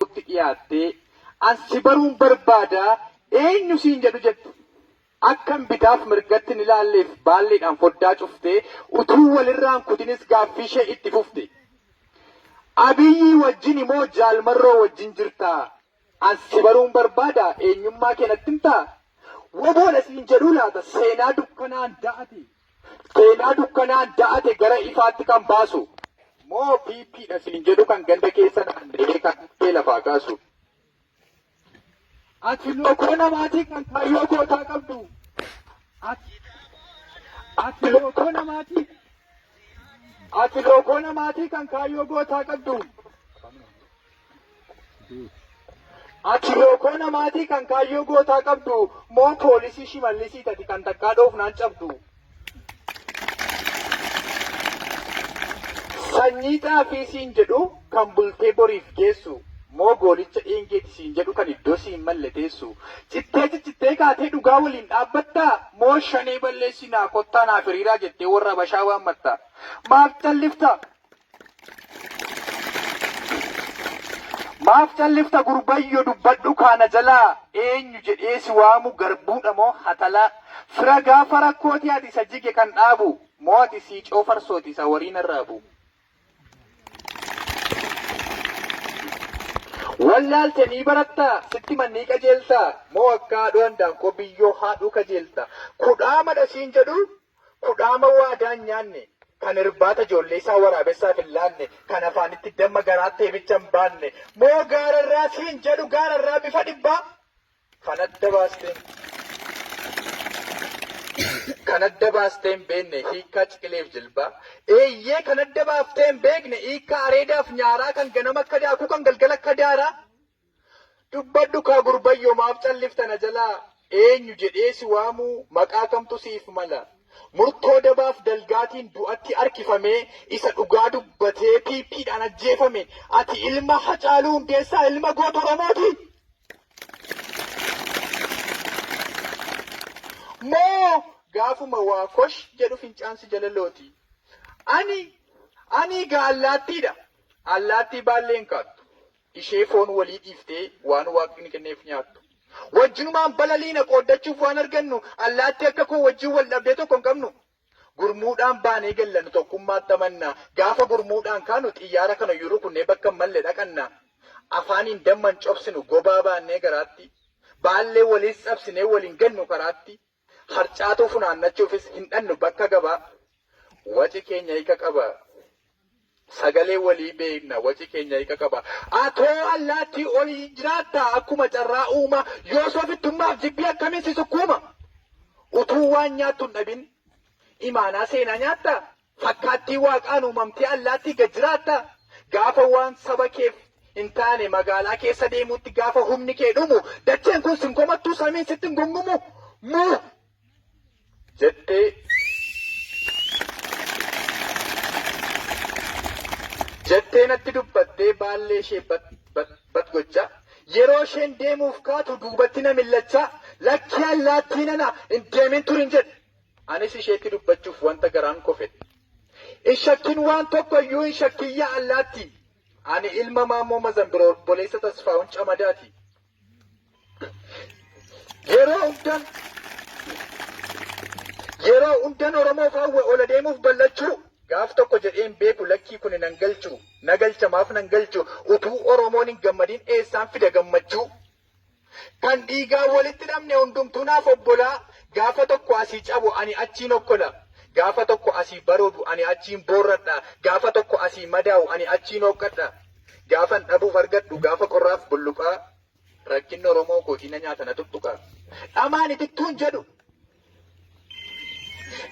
tokkotti dhiyaattee an si baruun barbaada eenyu siin jedhu jette. Akkan bitaaf mirgatti hin ilaalleef baalleedhaan foddaa cuftee utuu walirraan kutinis gaaffiishee itti fufte. Abiyyii wajjini moo Jaal Marroo wajjin jirtaa? An si baruun barbaada eenyummaa kee natti himtaa? Woboodha siin jedhuu laata seenaa dukkanaan da'ate? Seenaa dukkanaan da'ate gara ifaatti kan baasu. Moo PP dha siin jedhu kan ganda keessa naanna'ee kan dhukkee lafaa kaasu. Ati lookoo namaatii kan kaayyoo gootaa qabdu. Ati lookoo namaatii. Ati lookoo namaatii kan kaayyoo gootaa qabdu. Ati lookoo namaatii kan kaayyoo gootaa qabdu moo poolisii shimallisii tati kan takkaa dhoofnaan cabdu. Sanyii xaafii siin jedhu kan bultee boriif geessu moo goolicha dheengeeti siin jedhu kan iddoo siin malle teessu. Cittee ciccittee kaatee dhugaa waliin dhaabbattaa moo shanee balleessinaa kottaa naaf hiriiraa jettee warra habashaa waammatta. Maaf callifta? Maaf callifta gurbayyo dubbadhu kaa na jalaa eenyu jedhee si waamu garbuudha moo hatalaa fira gaafa rakkooti ati isa jige kan dhaabu moo ati siicoo farsooti isa wariin arraabu. Wallaalte nii baratta sitti mannii qajeelta moo akka haadhoo handaankoo biyyoo haadhuu kajeelta kudhaamadha siin jedhu Kudhaama waadaa hin nyaanne, kan irbaata ijoollee isaa waraabessaaf hin laanne, kan afaanitti damma garaatti eebicha hin baanne, moo gaara irraa siin jedhu gaara irraa bifa dhibbaa kan adda baastee kan adda baastee hin beekne hiikkaa ciqileef jilbaa, eeyyee kan adda baaftee hin beekne hiikkaa areedaaf nyaaraa kan ganama akka daakuu kan galgala akka daaraa. Dubbadhu kaa gurbayyo maaf callifta na jala eenyu jedhee si waamu maqaa kamtu siif mala murtoo dabaaf dalgaatiin du'atti harkifamee isa dhugaa dubbatee pp dhaan ajjeefame ati ilma hacaaluu hundeessaa ilma goota oromooti moo gaafuma waa kosh jedhu fincaan si jala looti ani ani gaa allaattiidha allaattii baallee hin kaattu Ishee foon walii dhiiftee waan Waaqni kenneef nyaattu. Wajjinumaan balaliina, qooddachuuf waan argannu. Allaattii akka koo wajjin wal dhabdee tokko hin qabnu. Gurmuudhaan baanee galla, nu tokkummaatti amanna. Gaafa gurmuudhaan kaanu xiyyaara kanayyuu rukunnee bakka hin malle dhaqanna. Afaaniin damma hin cobsinu, gobaa baannee garaatti. Baallee waliis cabsinee wal hin gannu karaatti. Harcaatuu funaannachuufis hin dhannu bakka gabaa. Waci keenya hika qaba. Sagalee walii beekna waci keenya hika qaba. Atoo allaattii oliin jiraattaa akkuma carraa uumaa yoos ofittummaaf jibbii akkamiin si sukkuuma? Utuu waan nyaattu hin dhabin imaanaa seenaa nyaattaa? Fakkaattii Waaqaan uumamtee allaattii gad jiraattaa? Gaafa waan saba keef hin taane magaalaa keessa deemuutti gaafa humni kee dhumu dacheen kun sin komattuu samiin sitti hin gungumu muu? jettee jettee natti dubbattee baallee ishee bat bat bat gochaa yeroo isheen deemuuf kaatu duubatti na millachaa lakkii allaattii nana hin deemin turin jedhe Anis isheetti dubbachuuf wanta garaan koo fedhe. Hin shakkin waan tokko iyyuu hin shakkin yaa allaattii. Ani ilma Maammoo Mazambiroo obboleessa Tasfaahun Camadaati. Yeroo hundan yeroo hundan Oromoof hawwe ol adeemuuf bal'achuu gaaf tokko jedhee hin beeku lakkii kuni nan galchu na galcha maaf nan galchu utuu Oromoon hin gammadin eessaan fida gammachuu Kan dhiigaan walitti hidhamne hundumtuu naaf obbolaa, gaafa tokko asii cabu ani achiin okkola, gaafa tokko asii baroodu ani achiin boorradha, gaafa tokko asii madaa'u ani achiin hooqqadha, gaafan dhabuuf argadhu gaafa qorraaf bulluqaa, rakkinni Oromoo kootii na nyaata na tuttuqa. Dhamaan itittuun jedhu.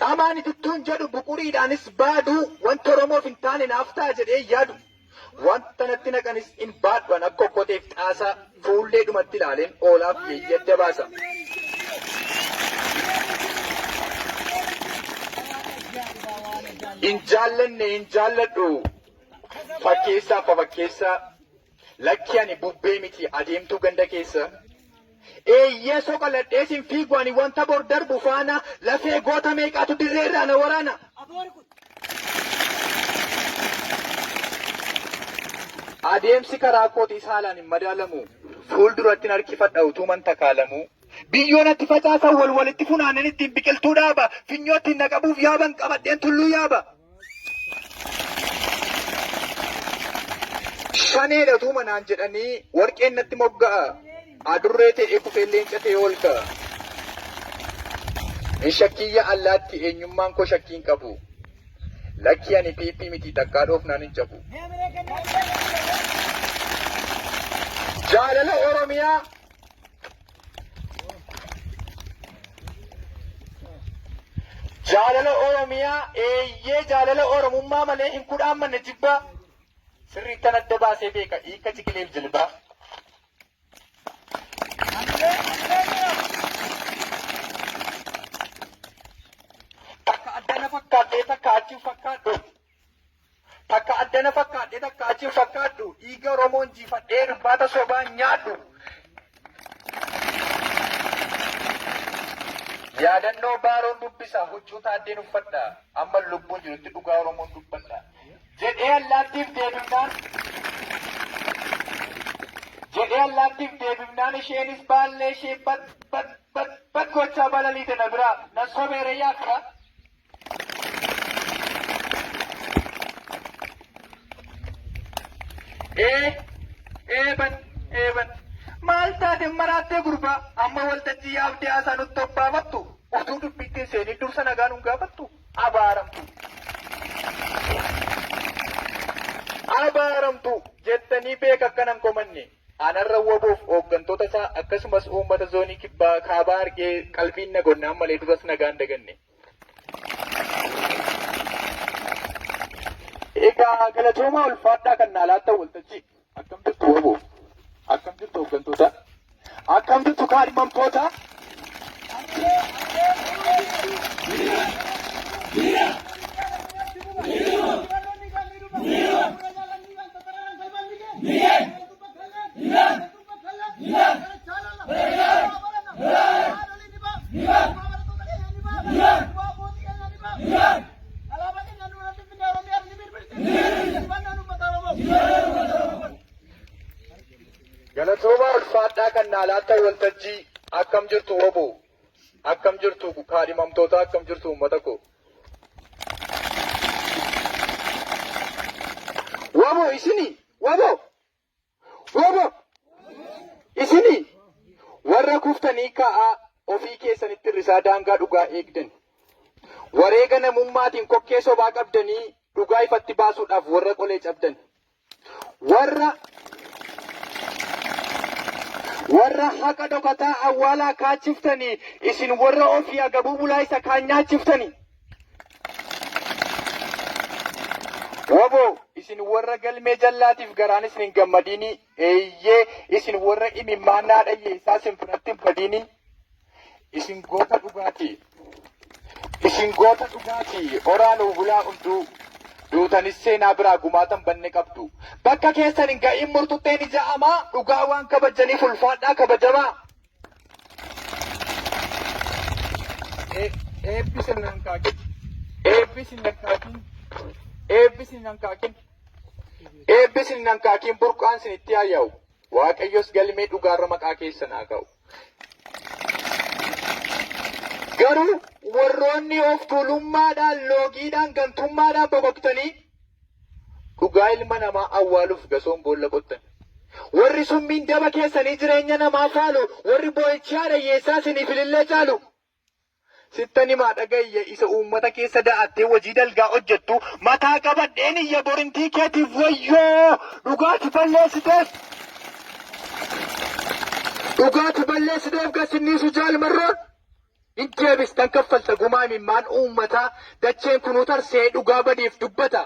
Dhamaan itittuun jedhu buquriidhaanis baaduu wanta Oromoof hin taane naaf ta'a jedhee yaadu wanta natti naqanis hin baadhu an akka okkoteef xaasaa fuullee dhumatti ilaaleen oolaaf yeeyyii adda baasa. Hin jaallanne hin jaalladhu fakkeessaaf fafakkeessaa Lakki ani bubbee miti adeemtuu ganda keessa. Eeyyee soqa ladhee sin fiigu ani wanta bor darbu faana lafee goota meeqaatu dirree irraa na waraana. Adeemsi karaa kootiis haalaan hin madaalamu. Fuuldurattin harkifadha utuuman takaalamuu. Biyyoo natti facaasan wal walitti funaanen ittiin biqiltuu dhaaba. Finyoo ittiin na qabuuf yaaban qabadheen tulluu yaaba. Shaneedha tuuma naan jedhanii warqeen natti mogga'a. Adurree ta'ee kufee leenca ta'ee ol ka'a. Hin shakkiyya allaatti eenyummaan koo shakkii hin qabu. Lakkii ani PP miti takkaa dhoofnaan hin cabu. Jaalala Oromiyaa Jaalala Oromiyaa eeyyee jaalala Oromummaa malee hin kudhaan manne jibbaa sirriittan adda baasee beeka hiika ciqileef jilbaa. Takka adda na fakkaattee takka achi hin fakkaadhu. Takka adda na fakkaadhe takka achi hin fakkaadhu dhiiga Oromoo injiifadhee irbaata sobaa hin nyaadhu. Yaadannoo Baaroon dubbisa huccuu Taaddeen uffadha amma lubbuun jirutti dhugaa Oromoon dubbadha. Jedhee allaattiif deebifnaan jedhee allaattiif deebifnaan isheenis baallee ishee bat bat bat bat gochaa balaliite na biraa na sobeere yaadda Ee, eeban, eeban. Maal taate maraattee gurbaa amma waltajjii yaabdee haasaa nutti obbaafattu utuu dubbiitti hin seenin dursa nagaa nun gaafattu abaaramtu. Abaaramtu jettanii beeka akkanan komanne anarra waboof hooggantoota isaa akkasumas uummata zoonii kibbaa kaabaa argee qalbiin nagonnaan malee duras nagaan daganne. Egaa galatoomaa ulfaadhaa kan naa laattan waltajjii akkam jirtu waboo akkam jirtu hooggantoota akkam jirtu kaadhimamtoota Galatoomaa ulfaadhaa kan naalaata waltajjii akkam jirtu wabo akkam jirtu kaadhimamtoota akkam jirtu uummata koo. Wabo isini wabo Wabo! Isini warra kuftanii ka'aa ofii keessanitti irrisaa daangaa dhugaa eegdan. Wareega namummaatiin kokkee sobaa qabdanii dhugaa ifatti baasuudhaaf warra qolee cabdan. Warra warra haqa dhokataa awwaalaa kaachiftanii isin warra ofii agabuu bulaa isa kaan nyaachiftanii. Wbo isin warra galmee jallaatiif garaan isin hin gammadiini eeyyee isin warra imimmaan naa dhayyeessaa isin biratti hin badiini isin goota dhugaati isin goota dhugaati oraa nuu bulaa hunduu duutanis seenaa biraa gumaatan banne qabdu bakka keessan hin ga'iin murtutteen ija amaa dhugaa waan kabajjaniif ulfaadhaa kabajamaa. Eebbi sin hankaakin. Eebbi sin hankaakin. Eebbi sin hankaakin. Eebbi sin hankaakin burqaan sin itti haa yaa'u. Waaqayyos galmee dhugaarra maqaa keessan haa ka'u. Garuu warroonni of tuulummaadhaan, loogiidhaan, gantummaadhaan bokoktanii Dhugaa ilma namaa awwaaluuf gasoon boolla qottan. Warri summiin daba keessanii jireenya namaa faalu, warri boo'ichi haadha hiyyeessaa isiniif ilillee caalu. Sittan himaa dhaga'i ya isa uummata keessa da'attee hojii dalgaa hojjettu, mataa qabadheen iyya borintii keetiif wayyoo! Dhugaa ati balleessiteef, dhugaa ati balleessiteef gad sin dhiisu Jaal Marroon. Hin deebistan kaffalta gumaa imimmaan uummataa dacheen kunuu tarsa'ee dhugaa badeef dubbata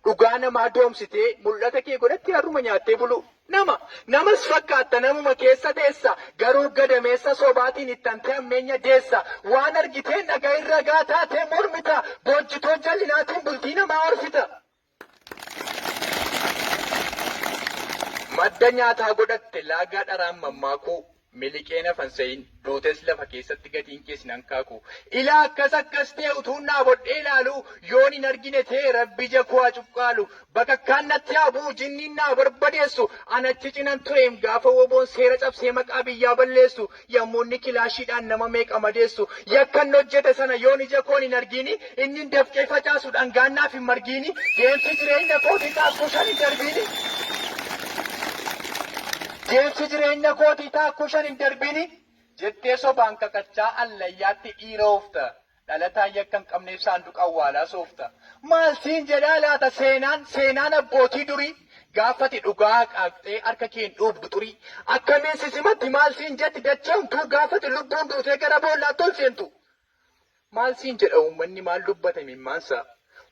dhugaa namaa doomsitee mul'ata kee godhatti harruma nyaattee buluu nama namas fakkaatta namuma keessa teessa garuu gadameessa sobaatiin ittantee ammeenya deessa waan argiteen dhaga'iin ragaa taatee mormita boojjitoo jallinaatiin bultii namaa orfita. Madda nyaataa godhatte laagaa dharaan mammaakuu Miliqee naf an se'in duutes lafa keessatti gatiin kee sin hankaaku Ilaa akkas akkas tee utuun dhaabodhee ilaaluu Yoon hin argine tee rabbi ija koo haa cuqqaalu Bakakkaan natti haa bu'u jinniin na haa barbadeessu An achi cinan tureem gaafa woboon seera cabsee maqaa biyyaa balleessu Yommuu inni kilaashiidhaan nama meeqa madeessu, yakka inni hojjete sana yoon ija koon hin argiini, inni hin dafqee facaasu dhangaan naaf hin margiini, deemsi jireenya kootii taakkuu shan hin darbiini, deemsi jireenya kootii taakkuu shan hin darbiini jettee sobaan kakachaa allayyaatti dhiira oofta. Dhalataan yakka hin qabneef saanduqa awwaalaa soofta. Maal siin jedhaa laata seenaan, seenaan abbootii durii? Gaafa ati dhugaa haqaaqxee harka keen dhuugdu xurii. Akkamiin si simatti maal siin jetti dachee ontuu gaafa ati lubbuun duutee gara boollaatti ol seentu? Maal siin jedha uummanni maal dubbata imimmaansaa?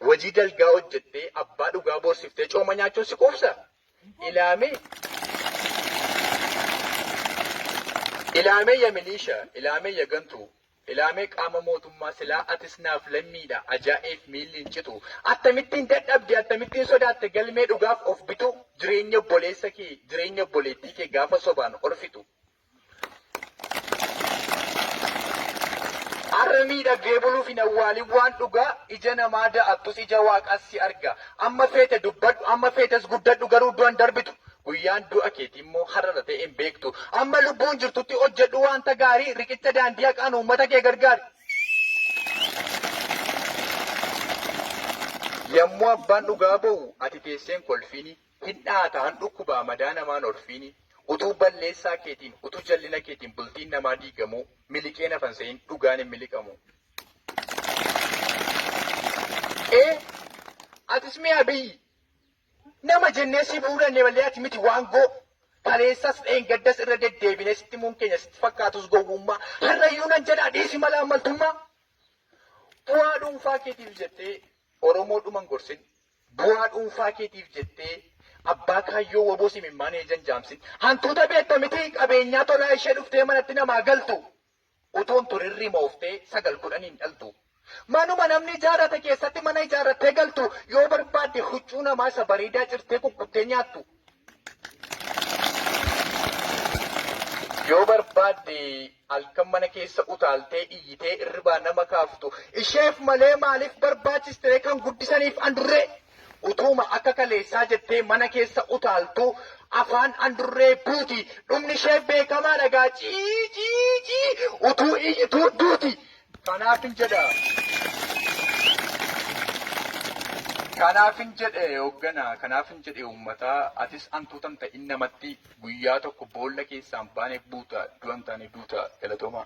Hojii dalgaa hojjettee abbaa dhugaa boorsiftee cooma nyaachuun si quubsaa? Ilaamee! Ilaamee ya miliishaa, ilaamee ya gantuu, Ilaamee qaama mootummaa silaa atis naaf lammiidha ajaa'eef miilli hin citu attamittiin dadhabde attamittiin sodaatte galmee dhugaaf of bituu jireenya obboleessa kee jireenya obboleettii kee gaafa sobaan orfitu Har'a miidhagdee buluuf hin awwaalin waan dhugaa ija namaa da'attus ija waaqaas si arga amma feete dubbadhu amma feetes guddadhu garuu du'an darbitu Guyyaan du'a keetii immoo har'a irra ta'ee hin beektu. Amma lubbuun jirtutti hojjedhu wanta gaarii, riqicha daandii haqaan uummata kee gargaari. Yommuu abbaan dhugaa ba'u ati teessee hin kolfiini, hin dha'ata, hin dhukkuba, madaa namaa hin horfiini. Utuu balleessaa keetiin, utuu jallina keetiin bultiin namaa diigamuu miliqee nafa hin se'in, dhugaan hin miliqamu. Ee, atis mee Abiyyi! Nama jennee si bahuu dandeenye malee ati miti waangoo. Kaleessas dheengaddas irra deddeebinee sitti himuun keenya sitti fakkaatus gowwummaa. Har'ayyuu nan jedhaa dhiisi mala ammaltummaa. Bu'aa dhuunfaa keetiif jettee Oromoo dhuman gorsin. Bu'aa dhuunfaa keetiif jettee abbaa kaayyoo waboos imimmaan eejan jaamsin. Hantuuta beekta miti qabeenyaa tolaa ishee dhuftee manatti namaa galtu. Utuun tun hin rimooftee sagal kudhan hin dhaltu. Manuma namni ijaarrate keessatti mana ijaarrattee galtu yoo barbaadde huccuu namaa isa bareedaa cirtee kukkuttee nyaattu. Yoo barbaadde halkan mana keessa utaaltee iyyitee irribaa nama kaaftu. Isheef malee maaliif barbaachiste ree kan guddisaniif andurree? Utuuma akka kaleessaa jettee mana keessa utaaltuu afaan andurree buuti. Dhumni ishee beekamaadha gaa cii cii cii utuu iyyituu duuti. Kanaafin jedha. Kanaafin jedhe hoogganaa, kanaafin jedhe uummataa, atis antuutan ta'in namatti guyyaa tokko boolla keessaa hin baane buuta, du'a hin taane duuta. Galatoomaa.